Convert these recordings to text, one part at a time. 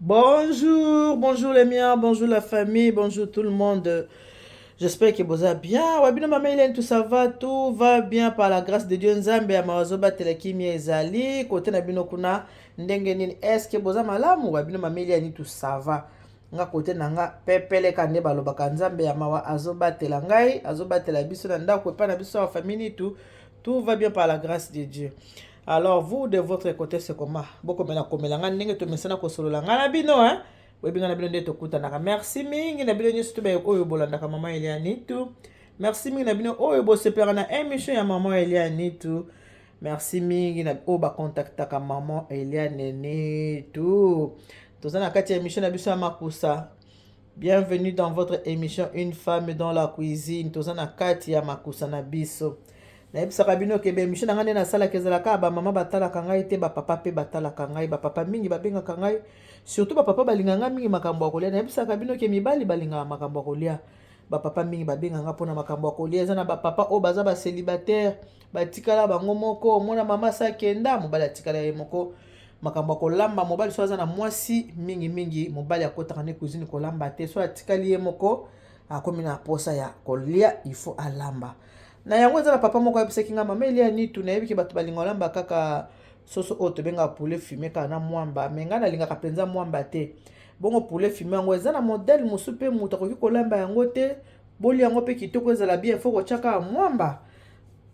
Bonjour, bonjour les miens, bonjour la famille, bonjour tout le monde. J'espère que boza bien. Wabino mama Hélène, tout ça va, tout va bien par la grâce de Dieu. Nzambe ya mawazo batela kimia ezali kote na bino kuna ndenge nini? Est-ce que boza malamu? Wabino mama Hélène, tout ça va. nga kote na nga pepeleka nde balobaka nzambe ya mawa azobatela ngai azobatela biso na ndako epai na biso ya famille nitu tout va bien par la grâce de dieu alors vous de votre côté c'est comment bokomela komela ngai ndenge tomesana kosolola ngai na bino hein boyebi ngai na bino nde tokutanaka merci mingi na bino nyonso tobe oyo bolandaka mama elia nitu merci mingi na bino oyo bosepelaka na émission ya mama elia nitu merci mingi na oyo bakontaktaka mama elia nene tu toza na kati ya émission na biso ya makusa Bienvenue dans votre émission Une femme dans la cuisine. Toza na kati ya makusa na biso. nayebisaka bino ke baemission na ngai nde nasalaka ezalaka bamama batalaka ngai te bapapa mpe batalaka ngai bapapa mingi babengaka ngai surtout bapapa balingaka ngai mingi makambo ya kolia nayebisaka bino ke mibali balingaka makambo ya kolia bapapa mingi babenga ngai mpona makambo ya kolia eza na bapapa oyo baza baselibataire batikala bango moko omona mama asi akenda mobali atikala ye moko makambo ya kolamba mobali so aza na mwasi mingimingi mobali akotaka ne cuisine kolamba te so atikali ye moko akomi na mposa ya kolia ifo alamba na yango eza na papa moko ayebisaki ngai mama elia nitu nayebiki bato balinga olamba kaka soso oyo tobengaka poulet fume kaka na mwamba me ngai nalingaka mpenza mwamba te bongo poulet fume yango eza na modele mosusu mpe moto akoki kolamba yango te bolia yango mpe kitoko ezala bien fo kotyaka mwamba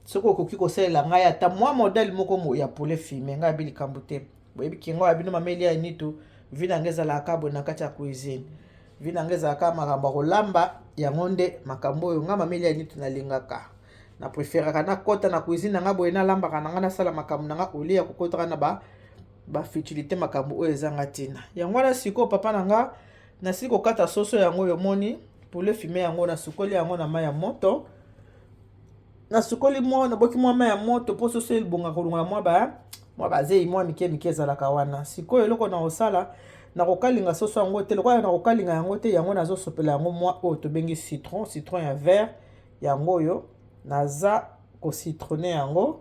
soki okoki kosalela ngai ata mwa modele moko ya pole filme ngai abi likambo te boyebi kingo ya bino mameli ya nitu vi na ngai ezalaka kaka boye na kati ya cuisine vi na ngai ezalaka kaka makambo ya kolamba yango nde makambo oyo ngai mameli ya nitu nalingaka na preferaka nakɔta na cuisine na ngai boye nalambaka na ngai nasala makambo na ngai olie ya kokotaka na ba bafutilité makambo oyo ezanga ntina yango wana sikoyo papa na ngai nasili kokata soso yango oyo omoni pole filme yango nasukoli yango na mai ya moto nasukoli mwa naboki mwa mai ya moto mpo soso elibonga kolongola mwa ba mwa bazei mwa mike mike ezalaka wana sikoyo eloko na kosala nakokalinga soso yango te lokola nakokalinga yango te yango nazosopela yango mwa oyo tobengi citron citron ya vert yango oyo naza kocitrone yango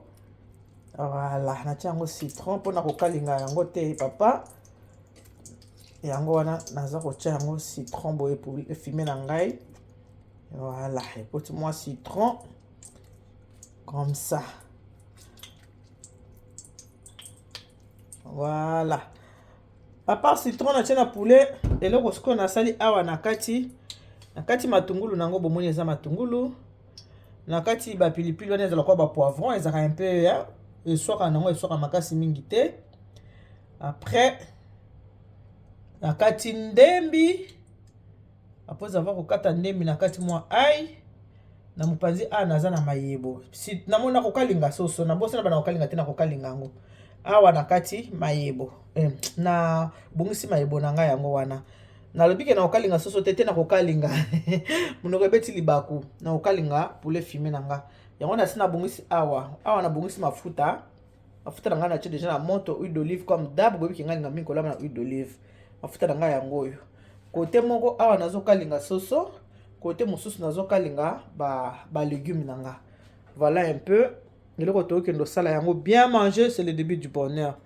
voilà natia yango citron mpo na kokalinga yango te papa yango wana naza kotia yango citron boye efime na ngai Voilà, écoute-moi citron. Comme ça. Voilà. À part citron, na tiena poulet. Et là, ce qu'on a sali awa na kati. Na kati matungulu, nango bomoni eza matungulu. Na kati ba pilipili, wana ezala kwa ba poivron, ezaka un peu, hein. Et soit quand nango, et soit makasi mingi te. Après, na kati ndembi. Après avoir kokata ndembi na kati mwa ai na mopanzi a naza na mayebo si namoni nakokalinga soso nabosana bana kokalinga te nakokalinga yango awa na kati mayebo eh, na bongisi mayebo na ngai yango wana nalobi ke nakokalinga soso te te nakokalinga monoko ebeti libaku nakokalinga poulet fume na nga yango nasi nabongisi awa awa nabongisi mafuta mafuta na ngai natie deja na moto huile d'olive comme dab boyebi ke ngai linga mingi kolamba na huile d'olive mafuta na ngai yango oyo kote moko awa nazokalinga soso kote mosusu nazokalinga balegume ba na nga voilà un peu eloko tokokende osala yango bien manger c'est le début du bonheur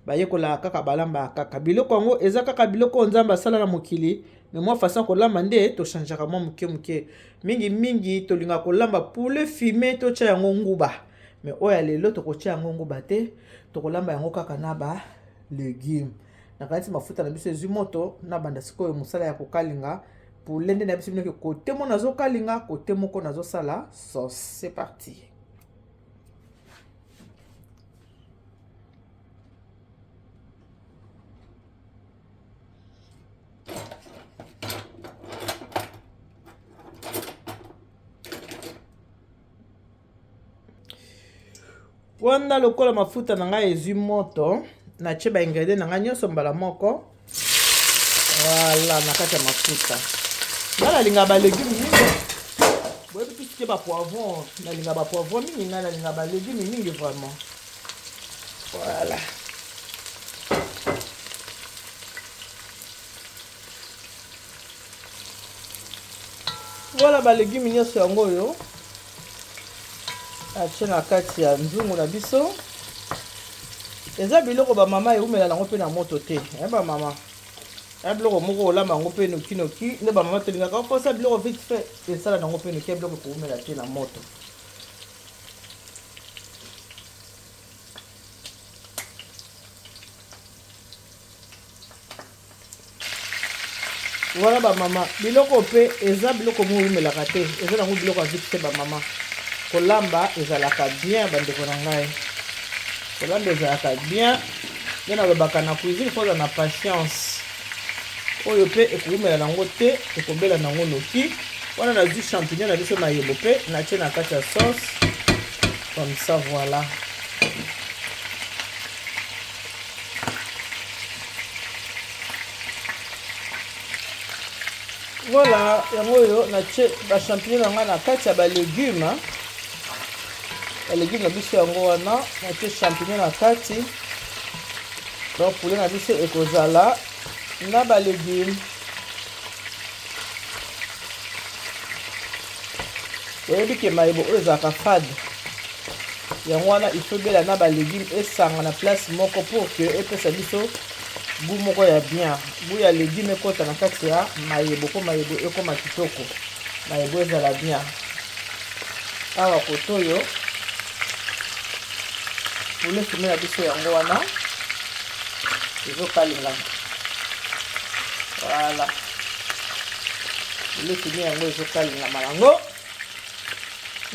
bayekolaka kaka balambaka kaka biloko yango eza kaka biloko oyo nzambe asala na mokili me mwa façon kolamba nde tochangeaka mwa moke moke mingi mingi tolingaka kolamba poulet fume totya yango nguba mais oyo ya lelo tokotia yango nguba te tokolamba yango kaka na ba legume nakanisi mafuta na biso ezwi moto nabanda sikoyo mosala ya kokalinga poulet nde na biso binoki kote moko nazokalinga kote moko nazosala sauce c'est parti wana lokola mafuta na ngai ezwi moto natye ba ingredient na ngai nyonso mbala moko wala na kati ya mafuta nga nalinga balegume mingi boyebi tusike bapoivron nalinga bapoivron mingi ngai nalinga balegume mingi vraiment voilà wana balegume nyonso yango oyo atie na kati ya nzungu na biso eza biloko bamama eumela nango mpe na moto te eh, bamama ya biloko moko olama yango mpe nokinoki nde bamama tolingaka mposa biloko vite fait esala nango mpe noki ya biloko ekoumela te na moto wana ba mama biloko pe eza biloko mo wumelaka te eza nango biloko ya vite ba mama kolamba ezalaka bien bandeko na ngai kolamba ezalaka bien nde nalobaka na cuisine mpo oza na patience oyo mpe ekowumela nango te ekobela nango noki wana nazwi champignon na biso mayebo mpe natye na kati ya sauce comme ça voilà Voilà, yango oyo natie ba champignon na ngai na kati ya ba legume ba legume na biso yango wana natie champignon na kati donc poulet na biso ekozala na ba legume oyebi ke mayebo oyo ezalaka fade yango wana ifobela na balegume esanga na place moko pour ke epesa biso gout moko ya bien gout ya legume ekota na kati ya mayebo mpo mayebo ekoma kitoko mayebo ezala bien awa kotoyo poulet fumé na biso yango wana ezokalingana voilà poulet fumé yango ezokalingama yango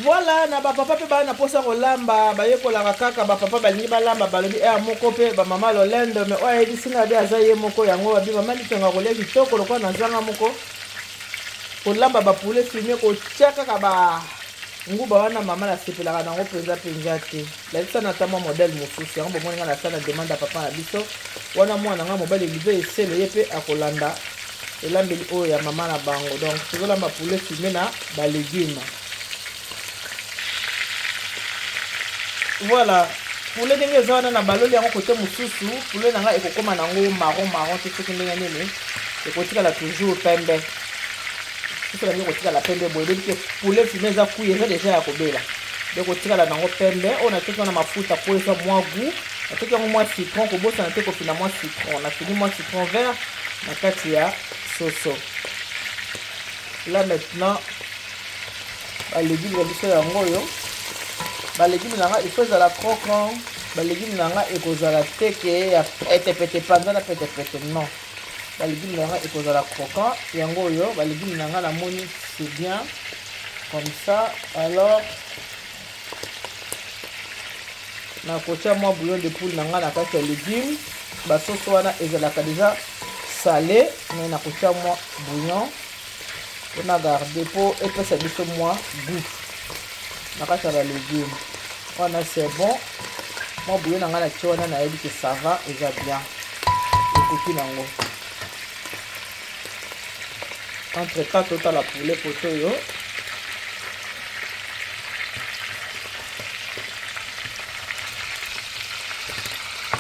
voilà na bapapa mpe baa na mposa kolamba bayekolaka kaka bapapa balingi balamba balobi ea eh, moko mpe bamama lolendo me oyo ayebisi ngai abe aza ye moko yango abi mama litonga kolia kitoko lokola na zanga moko kolamba ba poulet fume kotia kaka ba nguba wana mama nasepelaka nango mpenza mpenza te lakisa na ata mwa modele mosusu yango bomoni ngai nasala na demande ya papa na biso wana mwana ngai mobali live esele ye mpe akolanda elambeli oyo ya mama na bango donc tozolamba poulet fume na balegume voilà poulet ndenge eza wana na baloli yango kote mosusu poulet na ngai ekokoma na yango maron maron te soki ndenge nini ekotikala toujours pembe soki elangi ekotikala pembe boye ebebi te poulet fime eza kui eza deja ya kobela ekotikala na yango pembe oyo natoki wana mafuta mpo eza mwa gout natoki yango mwa citron kobosana te kofina mwa citron nafini mwa citron vert na kati ya soso là maintenant ba legume na biso yango oyo ba legume na nga il faut ezala croquant ba legume na nga ekozala te ke ya petepete panza na petepete non ba legume na nga ekozala croquant yango oyo ba legume na nga namoni c'est bien comme ça alors nakotya mwa bouillon de poule na nga na kati ya legume basoso wana ezalaka deja sale mais nakotya mwa bouillon pona garde po epesa biso mwa gout na kati ya balegume wana c'est bon mwa bouillon na ngai na tie wana nayebi ke ça va eza bien ekoki nango entre temps totala poulet poto oyo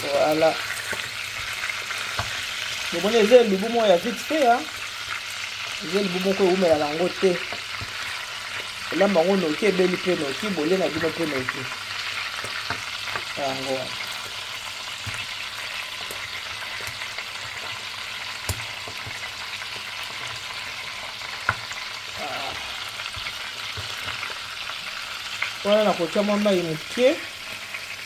voilà bomoni eza elubu moko ya vite fait eza libumu moko ewumela nango te olamba yango noki ebeli mpe noki bolie na bino mpe noki yango wana wana nakotya mwa mai moke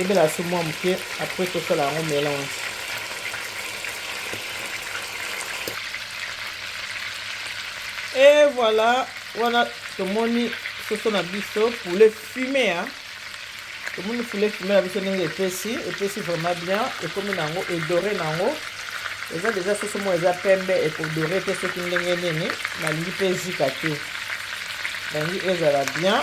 ebela so mwa moke apres tosala yango melange e voilà wana tomoni soso na biso poulet fume ya tomoni poulet fume na biso ndenge epesi epesi vraiment bien ekomi na yango edore na yango eza deja soso moko eza pembe ekodore te soki ndenge nini nalingi mpe ezika te nalingi ezala bien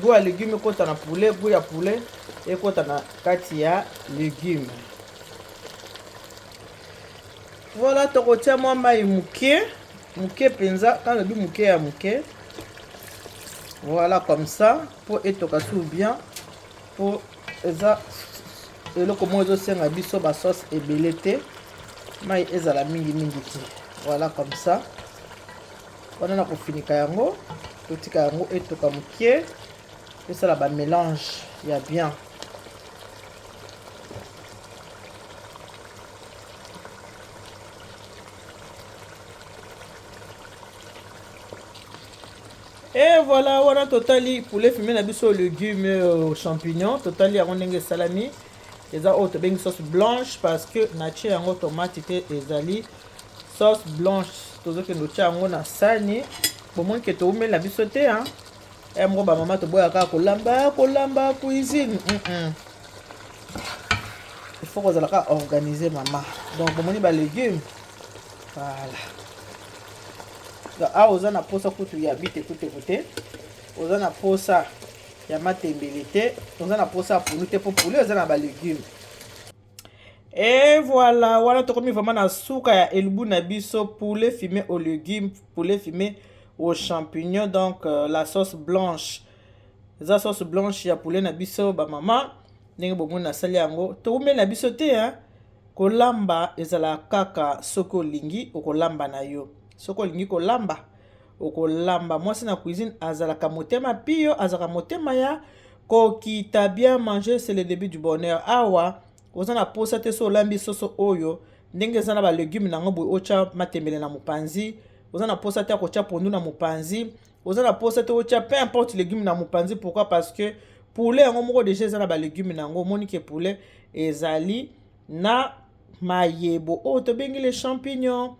Gout ya legume ekota na poulet, gout ya poulet ekota na kati ya legume. Voilà, tokotia mwa mai moke moke mpenza, quand lobi moke ya moke. Voilà comme ça, mpo etoka sur bien, mpo eza eloko moko ezosenga biso basauce ebele te mai ezala mingi mingi te voilà comme ça wana na kofinika yango totika yango etoka moke tosala bamélange ya bien e voilà wana totali poulet fume na biso legume euh, champignon totali yango ndenge esalami eza oyo tobengi sauce blanche parce que natie yango tomate te ezali sauce blanche tozokende otya yango na sani bomoni ke toumeli na biso te ya eh, moko bamama toboya kaka kolamba kolamba cuisine mm -mm. il faut kozala kaka organise mama donc bomoni balegume voilà awa oza na mposa kutu ya bite kuteku te oza na mposa ya matembele te oza na mposa ya pulu te mpo pulu eza na balegume Et voilà, wana tokomi vraiment na suka ya elbu na biso poulet fumé aux légumes, poulet fumé aux champignons donc euh, la sauce blanche. Eza sauce blanche ya poulet na biso ba maman ndenge bomoni nasali yango. Toumeli na biso te hein. Kolamba ezala kaka soki olingi okolamba na yo. Soki olingi kolamba okolamba mwasi na cuisine azalaka motema pio azalaka motema ya kokita bien manger c'est le début du bonheur awa oza na posa te so olambi soso oyo ndenge eza na balegume na yango boye otya matembele na mopanzi oza na posa te ya kotya pondu na mopanzi oza na posa te otya peu importe legume na mopanzi pourquoi parce que poulet yango moko deja eza na balegume na yango omoni ke poulet ezali na mayebo oyo tobengi le champignon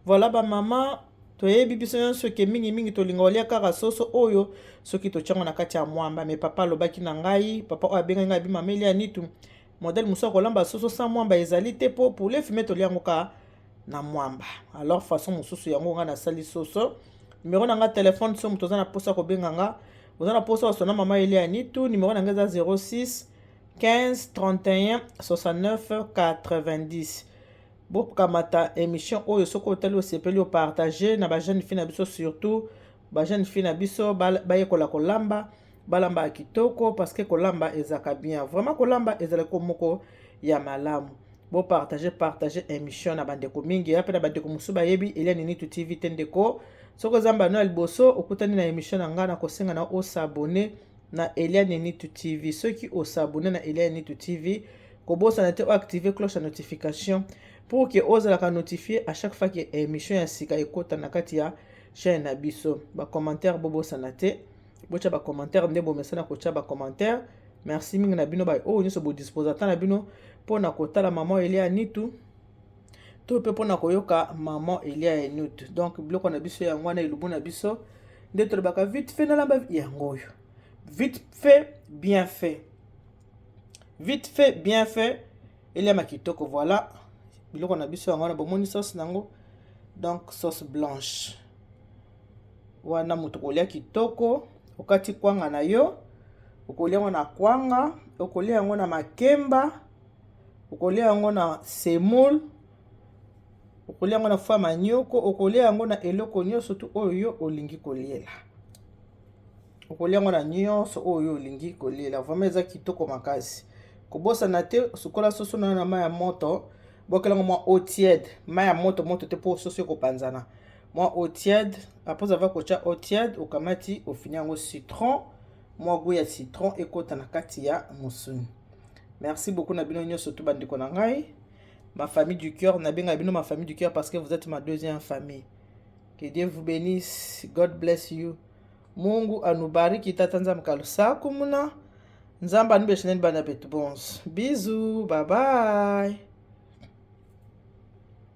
voilà bamama toyebi biso nyonso ke mingimingi tolinga olia kaka soso oyo soki totyango na kati ya mwamba me papa alobaki na ngai papa oyo abengaki ngai bimameli ya nitu modele mosusu ya kolamba soso sa mwamba ezali te mpo poulet fume tolia yango kaka na mwamba alors façon mosusu yango ngai nasali soso numero na ngai telefone so moto oza na mposa kobenga nga oza na mposa osona mama elia nitu numero na ngai eza 06 15 31 69 90 bokamata émission oyo soki otali osepeli opartage na bajeune fille na biso surtout bajeune fille na biso bayekola kolamba balambaka kitoko parce que kolamba ezalaka bien vraiment kolamba ezalaki moko ya malamu bopartage partage émission na bandeko mingi ya mpe na bandeko mosusu bayebi elia ninitu tv te ndeko soki oza mbano ya liboso okutani na émission na ngai na kosenga na osabone na Eliane Nitu TV. Soki o s'abonner na Eliane Nitu TV, kobosana te o activer cloche ya notification pour que ozalaka notifier à chaque fois que émission ya sika ekota na kati ya chaîne na biso. Ba commentaires bobosana te. Bocha ba commentaires nde bomesana kocha ba commentaires. Merci mingi na bino ba oyo nyonso bo disposa ata na bino mpo na kotala maman Eliane Nitu. to mpe mpona koyoka maman elia ya nut donc biloko na biso yango wana elubu na biso nde tolobaka vite fait nalamba yango oyo vite fait bien fait vite fait bien fait eliama kitoko voilà biloko na biso yango wana bomoni sauce nango donc sauce blanche wana moto kolia kitoko okati kwanga na yo okolia yango na kwanga okolia yango na makemba okolia yango na semoule, okolia yango na foie manioko, okolia yango na eloko nyonso tu oyo yo olingi koliela. Okolia yango na nyonso oyo yo olingi koliela. Vraiment eza kitoko makasi. Kobosana te sukola soso na yo na mai ya moto, bwakela yango mwa eau tiède, mai ya moto moto te mpo soso ekopanzana. Mwa eau tiède, après avoir kotya eau tiède, okamati ofini yango citron mwa gout ya citron ekota na kati ya musuni merci beaucoup na bino nyonso to bandeko na ngai ma famille du cœur nabenga bino ma famille du cœur parce que vous êtes ma deuxième famille que dieu vous bénisse god bless you mungu anubariki tata nzambe kalusa kumuna nzambe anubeshineni bana betu bonso bizu babaye